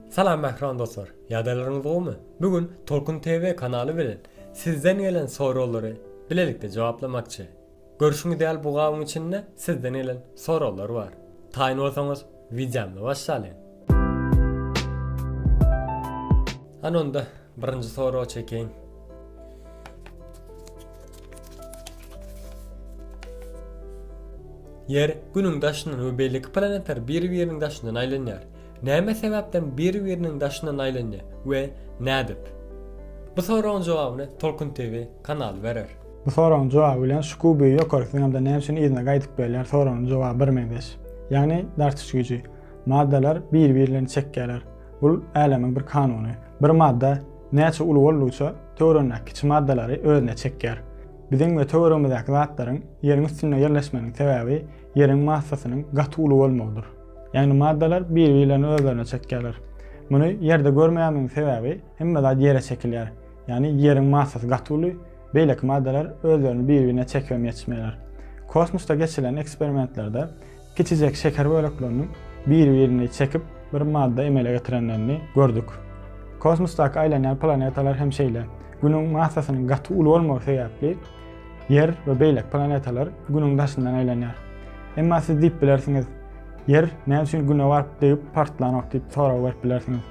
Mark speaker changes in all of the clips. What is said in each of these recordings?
Speaker 1: Salam mähriban dostlar! Ýagdaýlaryňyz gowumy? Bu gün Tolkun TV kanaly bilen sizden gelen soraglara bilelikde jogaplamakçy. Görüşiňiz ýaly bu gabyň içinde sizden gelen soraglar bar. Taýyn bolsaňyz wideomyza başlalyň. Hany onda birinji soragy çekeýin. Ýer Günüň daşyndan we beýleki planetler bir-biriniň daşyndan aýlanýar. näme sebäpden biri-biriniň daşyndan aýlanja we nädip? Bu soragyň jogabyny Tolkun TV kanaly berer. Bu soragyň jogaby bilen Şuku büýi ýokaryk zyňamda näme üçin yzyna gaýdyp gelýär soragynyň jogaby birmeňzeş. Ýagny dartyş güýji. Maddalar biri-birlerini çekýärler. Bul älemiň bir kanuny. Bir madda näçe uly boldugyça töweregindäki kiçi maddalary özüne çekýär. Biziň we töweregimizdäki zatlaryň ýeriň üstünde ýerleşmeginiň sebäbi ýeriň massasynyň gaty uly bolmagydyr. Ýagny maddalar bir-birlerini özlerine çekýärler. Muny Ýerde görmeýänmiň sebäbi hemme zat Ýere çekilýär. Ýagny Ýeriň massasy gaty uly, beýleki maddalar özlerini bir-birine çekibem ýetişmeýärler. Kosmosda geçilen eksperimentlerde kiçijek şeker bölekleriniň bir-birini çekip bir madda emele getirenlerini gördük. Kosmosdaky aýlanýan planetalar hem şeýle. Günüň massasynyň gaty uly bolmagy sebäpli, Ýer we beýleki planetalar Günüň daşyndan aýlanýar. Emma siz diýip bilersiňiz, Ýer näme üçin Güne baryp degip partlanok diýip sorag berip bilersiňiz.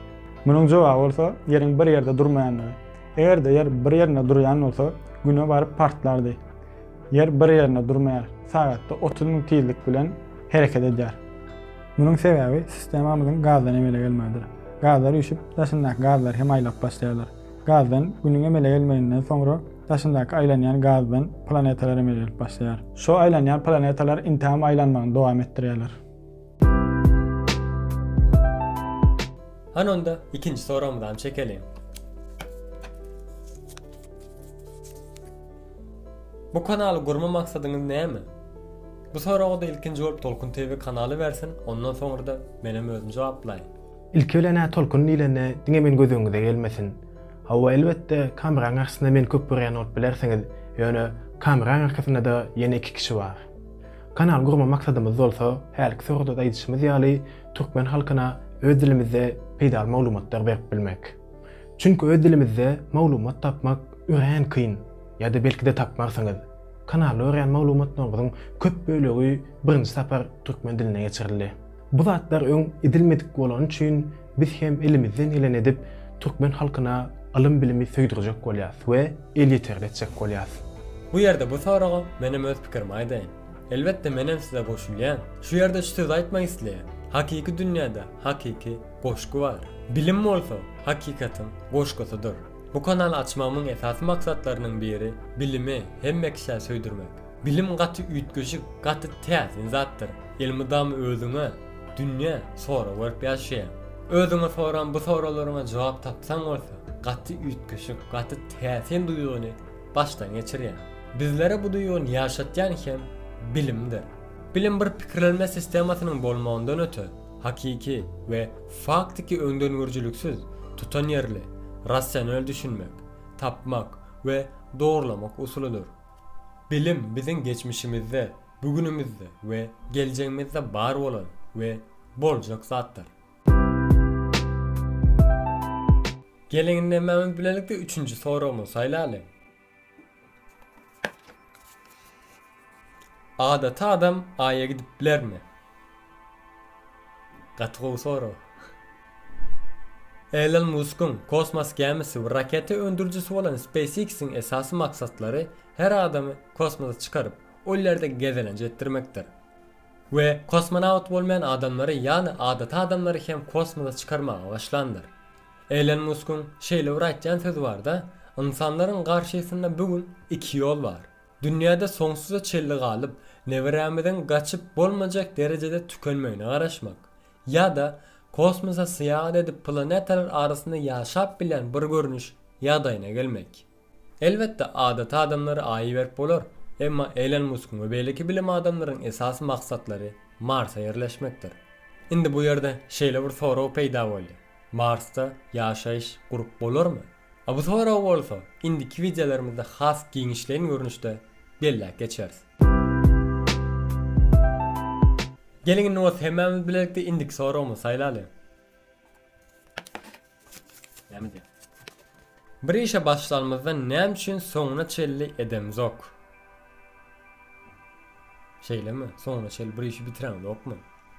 Speaker 1: Munuň jogaby bolsa Ýeriň bir ýerde durmaýandygy. Eger-de Ýer bir ýerinde durýan bolsa, Güne baryp partlardy. Ýer bir ýerinde durmaýar, sagatda otuz müň tizlik bilen hereket edýär. Munuň sebäbi sistemamyzyň gazdan emele gelmegidir. Gazlar üýşüp, daşyndaky gazlary hem aýlap başlaýarlar. Gazdan Günüň emele gelmeginden soňra daşyndaky aýlanýan gazdan planetalar emele gelip başlaýar. Şo aýlanýan planetalar intägem aýlanmagyny dowam etdirýärler. Hany onda ikinji soragymyzam çekeliň. Bu kanaly gurma maksadyňyz näme? Bu soraga-da ilkinji bolup Tolkun TV kanaly bersin, ondan soňra-da menem özüm jogaplaýyn. Ilki bilen-ä tolkun diýlende diňe men göz öňüňize gelmesin. Hawa, elbetde, kameranyň garşysynda meni köp görýän bolup bilersiňiz, ýöne kameranyň arkasynda-da ýene iki kişi bar. Kanal gurma maksadymyz bolsa, hälki soragda-da aýdyşymyz ýaly, türkmen halkyna öz dilimizde peýdaly maglumatlar berip bilmek. Çünki öz dilimizde maglumat tapmak örän kyn, ýa-da belki-de tapmarsyňyz. Kanalda görýän maglumatlaryňyzyň köp bölegi birinji sapar türkmen diline geçirildi. Bu zatlar öň edilmedik bolany üçin biz hem elimizden geleni edip türkmen halkyna ylym bilimi söýdürjek bolýas we elýeterli etjek bolýas. Bu ýerde bu soraga menem öz pikirimi aýdaýyn. Elbetde menem size goşulýan. Şu ýerde şu sözi aýtmak isleýän. Hakyky dünýäde hakyky goşgy bar. Bilim bolsa hakykatyň goşgusydyr. Bu kanaly açmagymyň esasy maksatlarynyň biri bilimi hemme kişä söýdürmek. Bilim gaty üýtgeşik, gaty täsin zatdyr. Elmydama özüňe, dünýä sorag berip ýaşaýaň. Özüňe soran bu soraglaryňa jogap tapsaň bolsa, gaty üýtgeşik, gaty täsin duýgyny başdan geçirýäň. Bizlere bu duýgyny ýaşatýan hem bilimdir. Bilim bir pikirlenme sistemasynyň bolmagyndan öte, hakyky we faktiki öňdengörüjiliksiz, tutanýerli, rasional düşünmek, tapmak we dogrulamak usulydyr. Bilim biziň geçmişimizde, bugünimizde we geljegimizde bar bolan we boljak zatdyr. Geliň indi hemmämiz bilelikde üçünji soragymyzy saýlaly. Adaty adam Aýa gidip bilermi? Gaty gowy sorag. Elon Muskyň kosmos gämisi we raketa öndürijisi bolan SpaceX-iň esasy maksatlary her adamy kosmosa çykaryp, ol ýerde gezelenç etdirmekdir. We kosmonawt bolmaýan adamlary, ýagny adaty adamlary hem kosmosa çykarmaga başlandyr. Elon Muskyň şeýle bir aýtýan sözi bar-da, Ynsanlaryň garşysynda bu gün iki ýol bar. Dünýäde soňsuza çenli galyp, neberämiziň gaçyp bolmajak derejede tükenmegine garaşmak Ýa-da kosmosa syýahat edip planetalar arasynda ýaşap bilýän bir görnüş ýagdaýyna gelmek. Elbetde adaty adamlara Aýy berip bolar, emma Elon Muskyň we beýleki bilim adamlaryň esasy maksatlary Marsa ýerleşmekdir. Indi bu ýerde şeýle bir sorag peýda boldy, Marsda ýaşaýyş gurup bolarmy? A bu soragy bolsa indiki wideolarimizde has giňişleýin görnüşde belläp geçeris. Geliň indi bolsa hemmämiz bilelikde indiki soragymyzy saýlaly. Näme diýýär? Bir işe başlanymyzda näme üçin soňuna çenli edemizok? Şeýlemi? Soňuna çenli bir işi bitiremizokmy?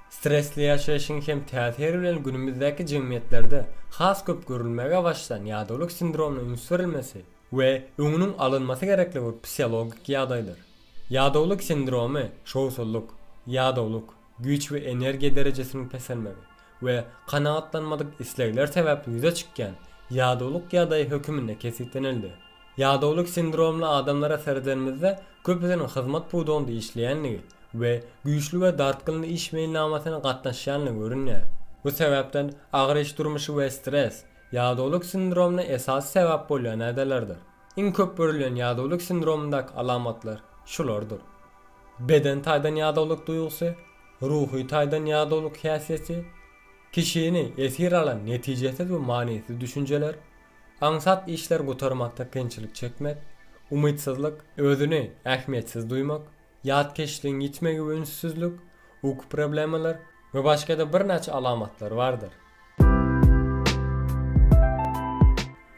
Speaker 1: Stresli ýaşaýşyň hem täsiri bilen günümizdäki jemgyýetlerde has köp görülmäge başlan ýadawlyk sindromyna üns berilmesi we öňüniň alynmasy gerekligi psihologik ýagdaýdyr. Ýadawlyk sindromy şowsuzlyk, ýadawlyk, güýç we energiýa derejesiniň peselmegi we kanagatlanmadyk islegler sebäpli ýüze çykýan ýadawlyk ýagdaýy höküminde kesgitlenildi. Ýadawlyk sindromly adamlara seredenimizde köpüsiniň hyzmat pudagynda işleýändigi we güýçli we dartgynly iş meýilnamasyna gatnaşýandygy görünýär. Bu sebäpden agyr iş durmuşy we stres, Ýadawlyk sindromyna esasy sebäp bolýan nädelerdir? Iň köp görülýän ýadawlyk sindromyndaky alamatlar şulardyr, beden taýdan ýadawlyk duýgusy, ruhy taýdan ýadawlyk häsiýeti, kişini esir alan netijesiz we manysyz düşünjeler, aňsat işleri gutarmakda kynçylyk çekmek, umytsyzlyk, özüni ähmiýetsiz duýmak, Ýatkeşligiň ýitmegi we ünssüzlik, uky problemalar we başga-da birnäçe alamatlar bardyr.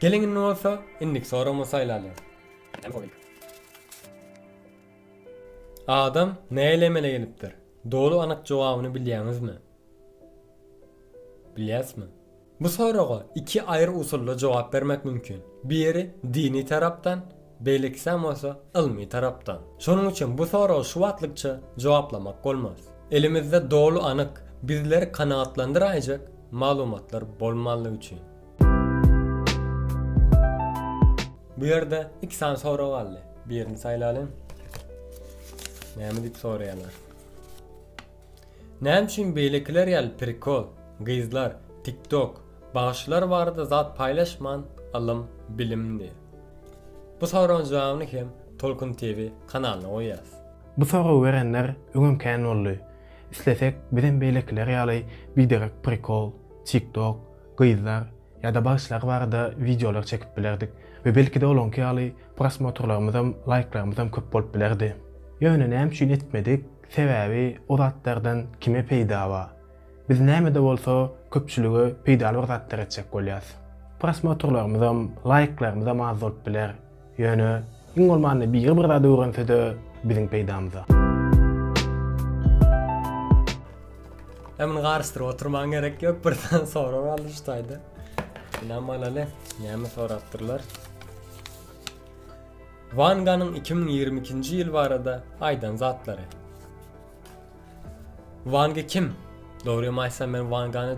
Speaker 1: Geliň indi bolsa indiki soragymyzy saýlalyň. Adam nähili emele gelipdir? Doly anyk jogabyny bilýäňizmi? Bilýärismi? Bu soraga iki aýry usulda jogap bermek mümkin. Biri dini tarapdan, beýlekisem bolsa ylmy tarapdan. Şonuň üçin bu soragy şu wagtlykça jogaplamak bolmaz. Elimizde doly anyk, bizleri kanagatlandyraýjak maglumatlar bolmanlygy üçin. Bu ýerde iki sany sorag galdy. Birini saýlalyň. Näme diýip soraýarlar? Näme üçin beýlekiler ýaly prikol, gyzlar, tiktok, bagşylar barada zat paýlaşman ylym, bilim diýip? Bu soragyň jogabyny hem Tolkun TV kanalyna goýýas. Bu soragy berenler öňem kän boldy. Islesek bizem beýlekiler ýaly biderek prikol, tiktok, gyzlar, Ýa-da bagşylar barada wideolar çekip bilerdik we belki-de olaňky ýaly prosmotrlarymyzam, laýklarymyzam köp bolup bilerdi. Ýöne näme üçin etmedik? Sebäbi o zatlardan kime peýda bar? Biz näme-de bolsa köpçülige peýdaly bir zatlar etjek bolýarys. Prosmotrlarymyzam, laýklarymyzam az bolup biler. Ýöne, iň bolmanda biri bir zat öwrense-de biziň peýdamyza. Hem muny garyşdyryp oturmaň gerek ýok, birden sorag aldy şu taýda. Ynam alaly, näme sorapdyrlar? Wanganyň 2022-nji ýyl barada aýdan zatlary. Wangy kim? Dogrymy aýtsam men Wangany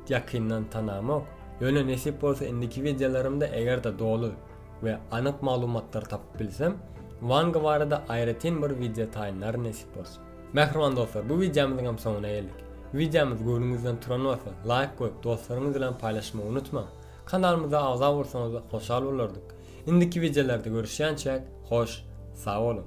Speaker 1: ýakyndan tanamok. Ýöne nesip bolsa indiki wideolarymda eger-de doly we anyk maglumatlar tapyp bilsem Wanga barada aýratyn bir wideo taýynlaryn nesip bolsa. Mähriban dostlar bu wideomyzyňam soňuna geldik. Wideomyz göwnüňizden turan bolsa laýk goýup dostlaryňyz bilen paýlaşmagy unutmaň. Kanalymyza agza bolsaňyzda hoşal bolardyk. Indiki wideolarda görüşýänçäk hoş sag boluň.